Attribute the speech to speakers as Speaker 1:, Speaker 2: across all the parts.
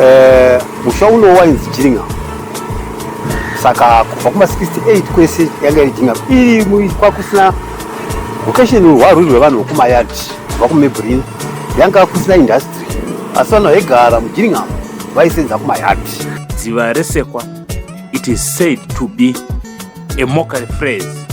Speaker 1: Eh, musha uno wainzi jiringa saka kubva kuma 68 kwese yanga iri jinga iri mu- kwakusina vocation hwarwiri rwevanhu vokumayard kubva kumebrin yanga kusina industry asi vanhu vaigara mujiringa vaisenza kumayard Dziva resekwa,
Speaker 2: it is said to be a mockery phrase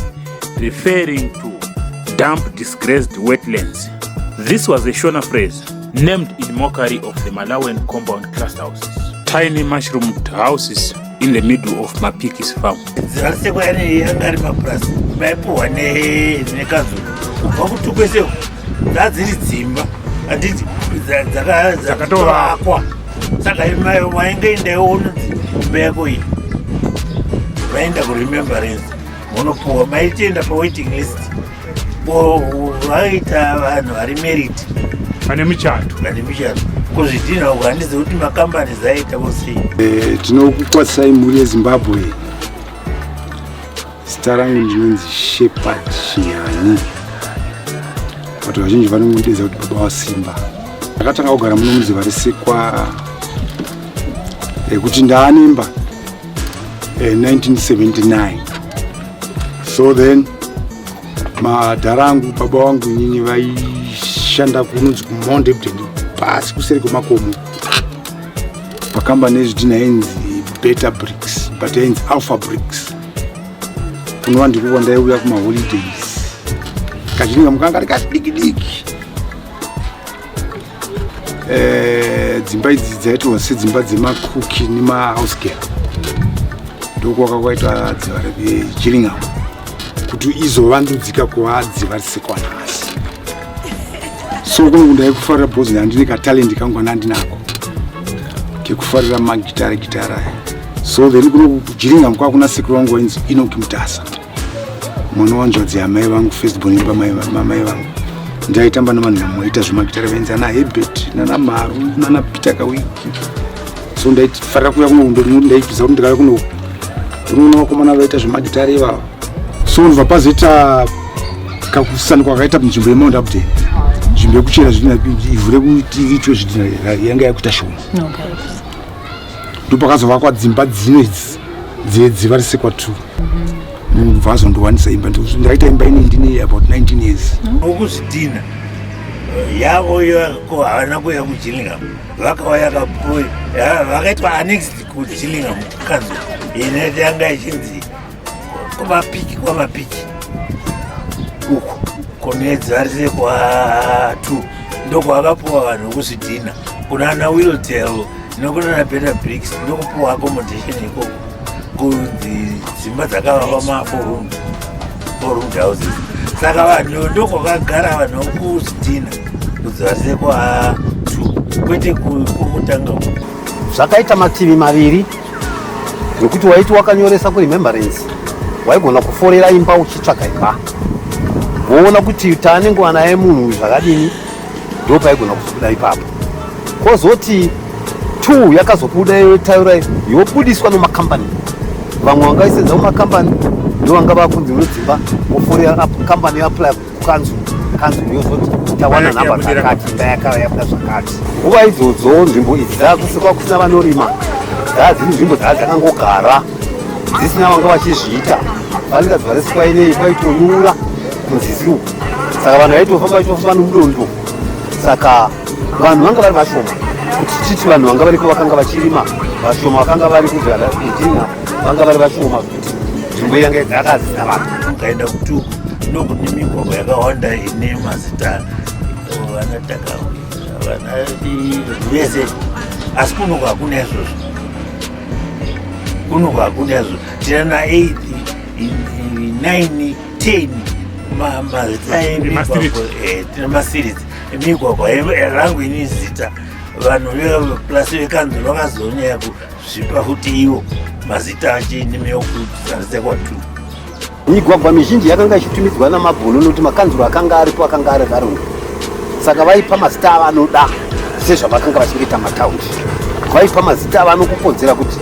Speaker 2: referring to damp disgraced wetlands. This was a Shona phrase named in mockery of the Malawian compound class houses, tiny mushroomed houses in the middle of Mapiki's farm. Dzirasekwa yane
Speaker 3: yanga ari mapurasi maipuhwa nekazuru kubva kuti kwese dzadziri dzimba handiti dzakatovakwa saka wainge indawo unonzi imba yako iyi vaenda kuremembrance munopuwa maitienda pawaiting list vaita vanhu vari merit vane michato
Speaker 2: vane michato kuzvidhinha
Speaker 3: uku handizi kuti makambani zaita vosei eh, tinokukwatisai
Speaker 4: mhuri yezimbabwe Zita rangu ndinonzi Shepherd Shiyani. Watu vazhinji vanongondidza kuti baba wasimba. Ndakatanga kugara muno muziva risikwa rekuti ndaanemba 1979 eh, so then madhara angu baba wangu nyinyi vaishanda kunonzi kumonde bdeni pasi kuseri kwemakomo pakambani yezvidhina yainzi beta bricks but yainzi alpha bricks unova ndikuva ndaiuya kumaholidays kachinenge mukanga ari kadiki diki eh, dzimba idzi dzaitwa sedzimba dzemakuki nemahouse girl ndokuwaka kwaita dziva rechiringamo kuti izovandudzika kuva dziva risekwanhasi so kwangu ndaikufarira bhozi handine katalent kangu ana ndinako kekufarira magitara gitara aya so then kuno kujiringa mkwa kuna sekuru wangu wainzi inoki mutasa mwana wanzvadzi yamai vangu festbon pamai vangu ndaitamba navanhu vamoita zvemagitara vainzi ana hebert nana maru nana peter kawiki so ndaifarira kuya kuno ndaiziva kuti ndikauya kuno unoona vakomana vaita zvemagitara ivavo so ndobva pazoita kakusana kwakaita munzvimbo yemount upden nzvimbo yekuchera zvidhina ivhu rekuitwe zvidhina yanga yakuita shoma ndopakazovakwa dzimba dzino idzi dzedziva risekwa two ndobva mhm. azondiwanisa imba ndakaita imba ine ndine about 19 years okuzvidhina
Speaker 3: eh, yavo yako havana kuya kuchillingham vakauya kapo vakaitwa annexed kuchillingham kanzo ine yanga ichinzi kwavapiki kwavapiki uku konedzi varise kwatu ndokwakapuwa vanhu vekuzvidhina kuna ana wiltel nokunana better bricks ndokupuwa accommodation ikoko kunzi dzimba dzakavakwa maforum forum houses saka vanhu ndokwakagara vanhu vekuzvidhina kuti varise kwatu kwete kutanga zvakaita
Speaker 1: mativi maviri nokuti waiti wakanyoresa kuremembrance waigona kuforera imba uchitsvaka imba woona kuti taane nguva naye munhu zvakadini ndo paigona kuzobuda ipapo kwozoti t yakazobuda yotaura yobudiswa nomakambani vamwe vangaisenza kumakambani ndo vanga vakunzi unodzimba woforera kambani yoapply kanzu kanzu yozoti tawana nhamba dzakati ndayakava yabuda zvakati nguva idzodzo nzvimbo idzi dzakusikwa kusina vanorima dzadziri nzvimbo dzaa dzakangogara dzisina vanga vachizviita vanenga dzivaresikwa inei kwaitonyura kunzizi uku saka vanhu vaitofamba vaitofamba nomudondo saka vanhu vanga vari vashoma kuti titi vanhu vanga variko vakanga vachirima vashoma vakanga vari kuzvara idina vanga vari vashoma nzvimbo yange dzakazina vanhu ukaenda kutuku
Speaker 3: ndokune migwagwa yakawanda ine mazita vanataka vana vese asi kunoku hakuna izvozvo kunoku hakuna izvozvo tina na eight nine ten mazita eh, tina masiritsi emigwagwa rangu ini zita vanhu plus vekanzuro vakazonyaya zvipa kuti iwo mazita ache nemeokutaridza kwatu
Speaker 1: migwagwa mizhinji yakanga ichitumidzwa namabhunu nokuti makanzuro akanga aripo akanga ari varungu saka vaipa mazita avanoda sezvavakanga vachengeta mataundi vaipa mazita avanokukodzera kuti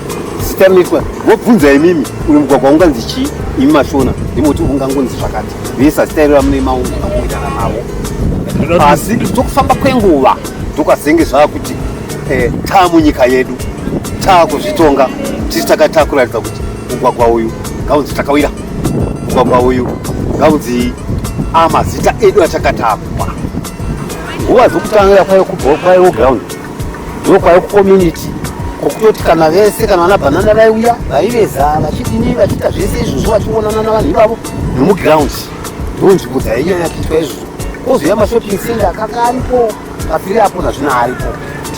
Speaker 1: zita rinoitwa vobvunza imimi uyu mugwagwa unganzi chii imi mashona ndimoti ungangonzi zvakati vese zita iro ramune maunga kuitana navo asi tokufamba kwenguva tokazenge zvava kuti eh, taa munyika yedu taa kuzvitonga tisi takataa kuratidza kuti mugwagwa uyu ngaunzi takawira mugwagwa uyu ngaunzi amazita ah, edu achakatapwa nguva dzokutanga kwaive kubva kwaive ground ndo kwaive kucommunity kokutoti kana vese kana vana bhanana vaiuya vaiveza vachidini vachiita zvese izvozvo vachionana navanhu ivavo nemuground ndo nzvimbo dzainyanya kuitwa izvozvo kozouya mashopping center akanga aripo Pafiri apo nazvino aripo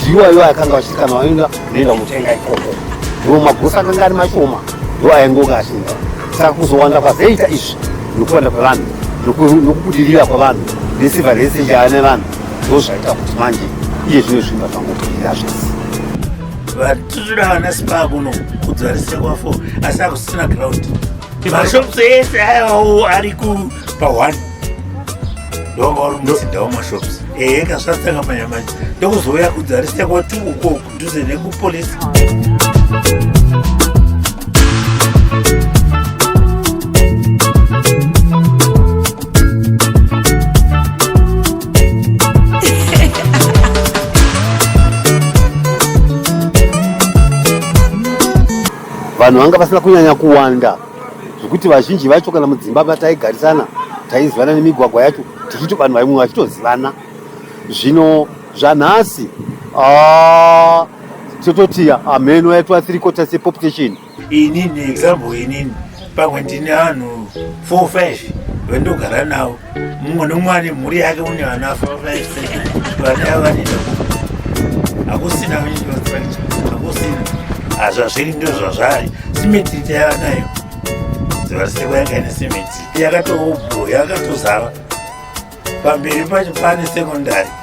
Speaker 1: ndiwo aiwa akanga achikanwa aenda unoenda mutenga ikoko ndiwo magosa akanga ari mashoma ndiwo aingonga achinda saka kuzowanda kwazoita izvi nokuwanda kwevanhu nokubudirira kwavanhu nesiva rese njaya nevanhu ndo zvaita kuti manje iye zvino zvimba zvangobudirira zvese vatitoda vana spa kuno
Speaker 3: kudzarisa kwafo asi akusina ground mashops ese ayawo ari kupahwani ndomauri muzinda wamashops ehe eh, kasvatanga manya manje ndokuzouya kudzarisa kwati uko kudhuze nekupolisi
Speaker 1: vanhu vanga vasina kunyanya kuwanda zvekuti vazhinji vacho kana mudzimba vataigarisana taizivana nemigwagwa yacho tichito vanhu vaimwe vachitozivana zvino zvanhasi ah, tototi hameno ah, yaitwa three quarters yepopulation inini
Speaker 3: example inini pamwe ndine vanhu four five vandogara navo mumwe nomwe ane mhuri yake une vana vafavaise vana yavo vanei hakusina hakusina hazvazviri ndo zvazvari simetiti yava nayo zivariseko yanga ine simetiti yakatobho yakatozara pamberi pacho pane sekondari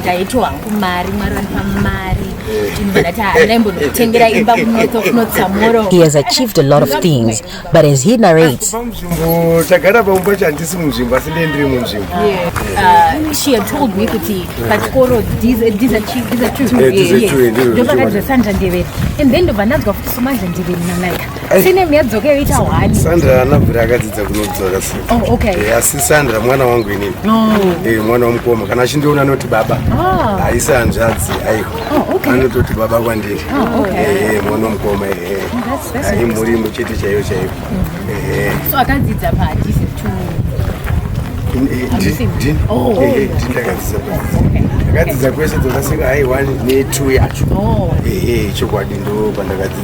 Speaker 5: ndaitwa
Speaker 6: hangu mari mwari vandipa mari He has achieved a lot of things, but as he narrates, uh, she had told me kuti pachikoro these these are
Speaker 5: true these are true. And then ndobva ndanzwa futi somanje ndiviri nanaika. Sinem yadzoka yoita hwani.
Speaker 1: Sandra haana bvira akadzidza kunodzoka se. Oh, okay. Eh, asi
Speaker 5: Sandra mwana
Speaker 1: wangu inini. No. Eh, mwana wamukoma kana achindiona anoti baba. Ah. Haisi hanzvadzi aiwa. Oh, okay. Anototi baba kwandiri. Oh, okay. Eh, eh mwana wamukoma eh. eh. Oh, that's that's. Ai muri muchete chaiyo chaiyo.
Speaker 5: Mm-hmm. Eh. So
Speaker 1: akadzidza pa DC to ndakadzidza oh, oh, kwese dzakasika haiwani ne2 yacho oh. ehe chokwadi ndo pandakadzidza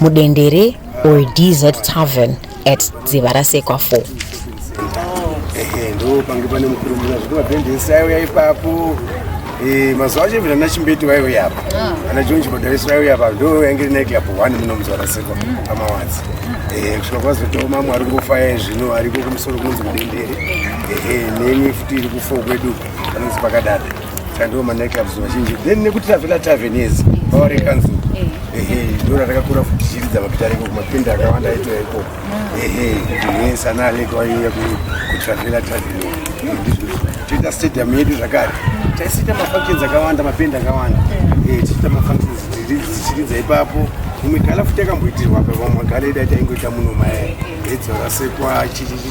Speaker 6: mudendere or dz tavern at dziva rasekwa 4 ndo
Speaker 1: pange pane mukuru muna zvekuti mabhendesi aiuya ipapo eh, mazuva acho vina nachimbeti vaiuya apa ah. ana jonji madariso vaiuya apa ndo yange rinaiti apo one muno muzuva rasekwa mm. pamawadzi eh, kusvika kwazotiwo mamwe ari kufaya zvino ariko kumusoro kunonzi mudendere neni futi iri kufo kwedu panonzi pakadada Tandiwo manightclubs vazhinji then nekuti tavela tavern yes power eh, council eh. ehe ndo ratakakura futi chiridza mapita reko kumapinda akawanda aitwa iko ah. ehe yes ana aleko aiuya kutravela tavern toita stadium yedu zvakare taisiita mafunctions akawanda mapinda akawanda eh. tichiita mafunctions dzichiridza ipapo imwe gala futi yakamboitirwa pa vamwe gala ida taingoita muno maye edzora sekwa chichichi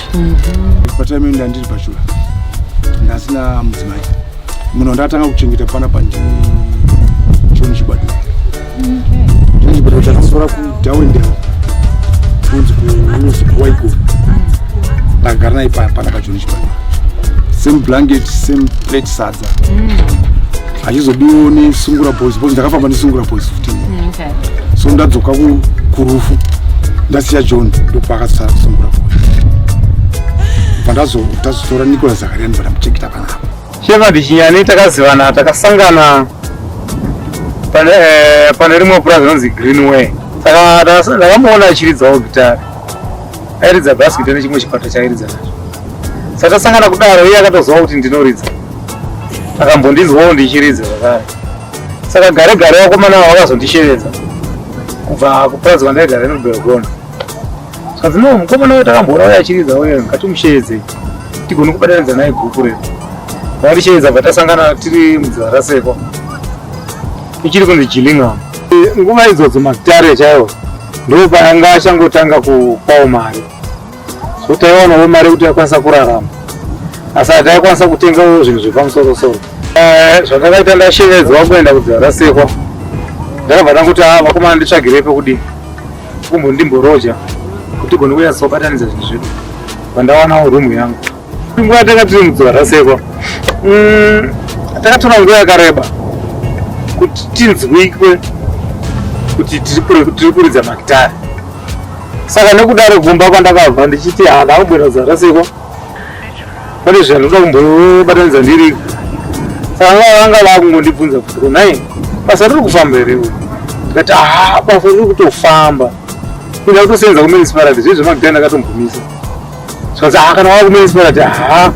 Speaker 4: patime ino ndandiri pachura ndasina mudzimai muno ndatanga kuchengeta pana pandi choni chibado choni chibado chakasora kudawendeo kunzi kuusi kuwaiko ndagara naye pana pachoni chibado same blanket same plate sadza mm. achizobiwo nesungura boys boys ndakafamba nesungura boys 15 mm. so ndadzoka kurufu ndasiya john ndopakasasungura bva ndazotazotora nicolas zakariani bva ndamuchengeta panapa sheva bichinyani
Speaker 7: takazivana takasangana pane eh, rimwe purazi rinonzi greenway saka ndakamuona achiridzawo gitari airidza basikita nechimwe chikwata chairidza nacho saka tasangana kudaro iye akatoziva kuti ndinoridza akambondinzwawo ndichiridza zvakare saka gare gare wakomana ava vakazondishevedza kubva kupurazi kwandaigara inobelgona zvikanzi no mukomana uyo takamboona uye achiridza uye ngatimusheedzei tigone kubatanidza naye guku redu vakatishevedza bva tasangana tiri mudziva rasekwa ichiri kunzi jilingam nguva idzodzo magitare chaiwo ndopayanga achangotanga kupawo mari so taiwanawo mari yekuti yakwanisa kurarama asi hataikwanisa kutengawo zvinhu zvepamusorosoro eh, zvandakaita ndashevedzwa kuenda kudzarasekwa ndakabva ndakuti a ah, vakomana nditsvagirei pekudii kumbondimboroja kuti gone kunyatsobatanidza zvinhu zvedu pandawanawo rumu yangu Nguva tanga tiri mudzimara seko mm, takatora nguva yakareba kuti tinzwikwe kuti tiri kuridza magitari saka nekudaro kumba kwandakabva ndichiti ha ndakubwira zara seko pane zvandinoda kumbobatanidza ndiri saka ngava vanga vakungondibvunza kuti kunai basa riri kufamba here uyu ndikati ha basa riri kutofamba inda kutosenza kumenisparati zvezvemagitari ndakatombomisa zvanzi haa kana wava kumunisipa kati haa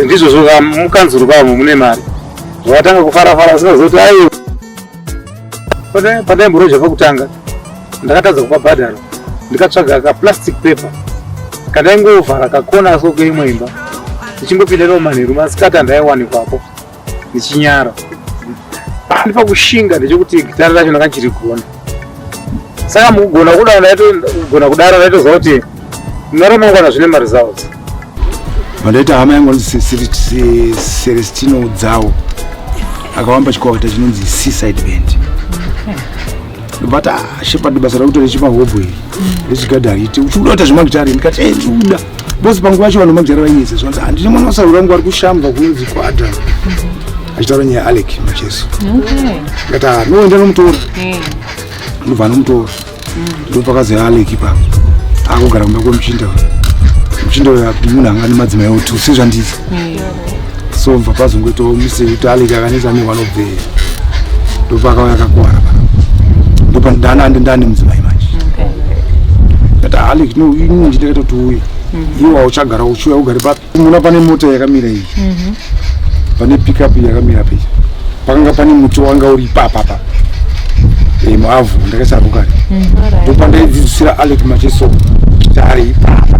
Speaker 7: ndizvozvo ka mukanzuru kavo mune mari zvavatanga kufara fara zvinozoti ayo pandaimboroja pakutanga ndakatadza kupa bhadharo ndikatsvaga kaplastic paper kandaingovhara kakona so keimwe imba ndichingopinda navo manheru masikati andaiwanikwapo ndichinyara pandi pakushinga ndechekuti gitara racho ndakachirigona saka mukugona kudaro ndaitogona kudaro ndaitoziva kuti muna ramangwana zvine maresults
Speaker 4: mandaita hama yangu anonzi celestino dzawo akawamba chikwakata chinonzi seaside band but ah, shepard basa rakuita rechipa hobho iri rechigadha harite uchikuda kuita zvemagitare ndikati e ndikuda bos panguva yacho vanhu magitare vainyese zvanzi handine mwana wasaura wangu ari kushamba kunzi kwadha achitaura nyaya alec macheso ndikati ah, noenda nomutora eh. ndobva nomutora mm. ndopakazi alec ipapo akugara kumba kwemuchinda muchinda uyo munhu anga nemadzimai otu sezvandizi eh. somva pazongoitawo misei kuti aleki akanisa ne one of the ndopakauya akakuwara pa ndopandana ande ndane mudzimai manje kata aleki no ini nditakaita kuti uye mhm. iwe wauchagara uchiuya ugare papi unoona pane mota yakamira iyi mhm. pane pickup yakamira pei pakanga pane muti wanga uri ipapapa eh, muavhu ndakasarukare mhm. ndopandaidzidzisira aleki macheso kuti ari ipapa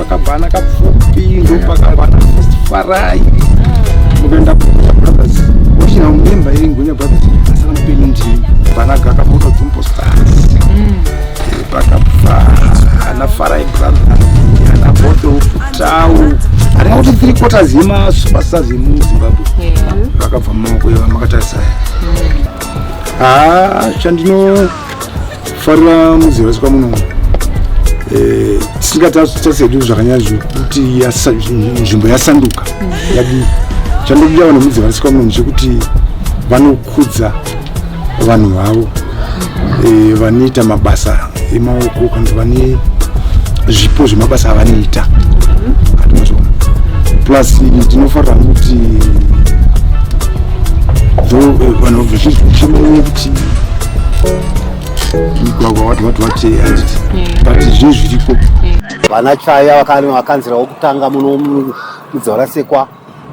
Speaker 4: pakabvana kapfupi ndopakabvana first farai mukaenda kugunya brothers wachina mumemba iri ngunya brothers asana mupenyu ndii banaga akabuda dzumbo stars pakabvana farai brothers ana bodo futau aringa kuti three quarters yemasuper stars yemuzimbabwe vakabva mumaoko yeva makatarisa haa chandino farira muzera sika muno eh, tisingatasedu zvakanyazo kuti nzvimbo yasanduka yadii chandobuda vanhu muzera sika muno chekuti vanokudza vanhu vavo eh, vanoita mabasa emaoko kana vane zvipo zvemabasa avanoita plus ndinofarira kuti eh, vanhu vazhinji vachimene kuti mugwagwa wati wati wati handiti but zvinhu zviriko vana chaya
Speaker 1: vakanzira wokutanga muno mudzavarasekwa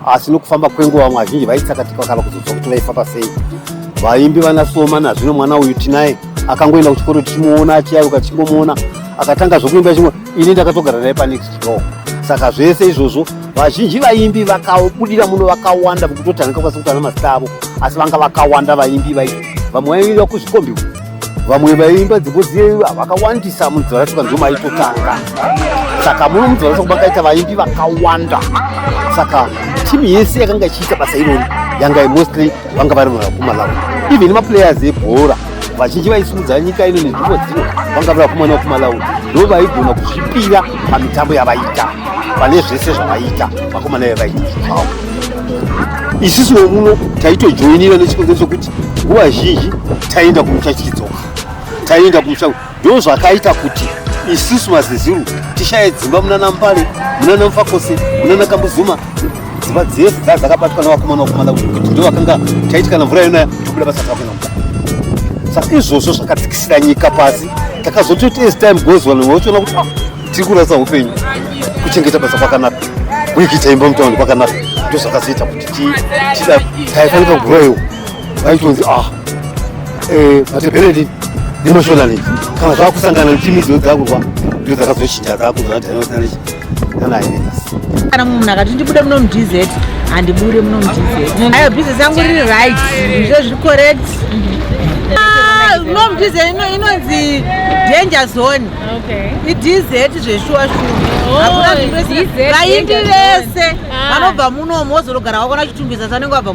Speaker 1: asi nokufamba kwenguva vamwe vazhinji vaitsakatika kana kuzodzwa kuti vaifamba sei vaimbi vana soma nazvino mwana uyu tinaye akangoenda kuchikoro tichimuona achiyaruka tichingomuona akatanga zvokuimba chimwe ini ndakatogara naye panext door saka zvese izvozvo vazhinji vaimbi vakabudira muno vakawanda vekutotanga kakwanisa kutana mazita avo asi vanga vakawanda vaimbi vai vamwe vaiimba kuzvikombi vamwe vaiimba dzimbo dziye vakawandisa munzora saka ndiwo maitotanga saka muno munzora saka makaita vaimbi vakawanda saka timu yese yakanga ichiita basa irori yanga mostly vanga vari kumalawi even maplayers ebhora vazhinji vaisimudza nyika ino nenzvimbo dzino vanga vakumana kumalawi ndo vaigona kuzvipira pamitambo yavaita pane zvese zvavaita vakomana vavaita zvavo isusu vomuno taitojoinira nechikonzero chokuti nguva zhinji taienda kumusha tichidzoka taienda kumusha Ndozvakaita kuti isusu mazezuru tishaye dzimba munana Mbale, munana Mfakose, munana Kambuzuma, dzimba dzese dzaa dzakabatwa nevakomana vakomana kuti ndovakanga taiti kana mvura yonaya tobuda basa takuenda mukati. Saka izvozvo zvakadzikisira nyika pasi, takazototi as time goes on vochiona kuti ah, tiri kurasa upenyu, kuchengeta basa kwakanaka, kuikita imba mutaundi kwakanaka, ndozvakazoita kuti tidaaifanika kuroiwa vaitonzi ah eh, matepereti nemashonalet kana zvakusangana nechimi dzino dzakurwa ndo dzakazochinja dzakuzoadhanosanech
Speaker 8: nanaendas kana munhu akati ndibude muno mudz handibure muno mudz ayo business yangu riri right zve zviri correct ah, no mudz inonzi danger zone idz zveshuwa shuwa vakuda oh, zvinhu vese vaindi vese ah. vanobva munomu wozorogara wakona chitumbisa sanenge wabva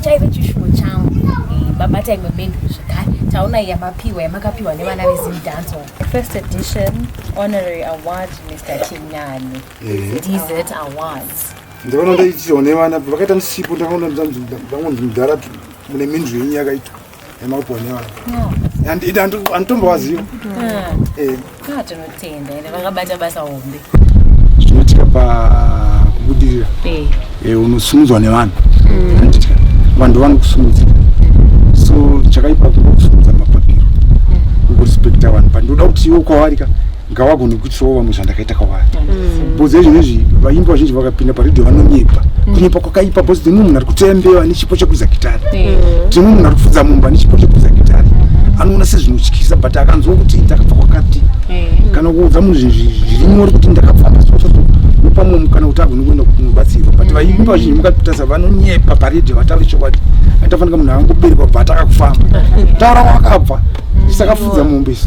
Speaker 5: chaive chishuwo changu eh, babata imwe menduru zvekare taona yamapiwa yamakapiwa nevana vezimdanso first edition
Speaker 9: honorary award mr chinyani eh. dz awards
Speaker 4: ndivana ndaichione vana vakaita msipo ndakaona vangonzi mudhara mune mindru yenyu yakaitwa emaubhonewa anditombowaziva
Speaker 9: tinotenda ende vakabata basa hombe zvinoitika
Speaker 4: pakubudirira unosumudzwa nevanhu vanhu vanokusumudza so chakaipa kukusumudza mapapiro ukurespekta vanhu but ndoda kuti iwe kwawarika ngawagone kutsowa vamwe zvandakaita kwavari mm. bhozi ezvino izvi vaimbi vazhinji vakapinda paredhio vanonyepa mm. kunyepa kwakaipa bhozi dzimwe munhu ari kuteya mbewa nechipo chekuza gitari dzimwe mm. munhu ari kupfudza mumba nechipo chekuza gitari anoona sezvinotyisa but akanzwa kuti ndakabva kwakati kana kuudza munhu zviri nyori kuti ndakabva pamwe mukana kuti agone kuenda kunobatsirwa but vaimbi vazhinji mukatasa vanonyepa paredhio vataure chokwadi aitafanika munhu avangoberekwa bva atakakufamba taura wakabva tisakafudza mombe isu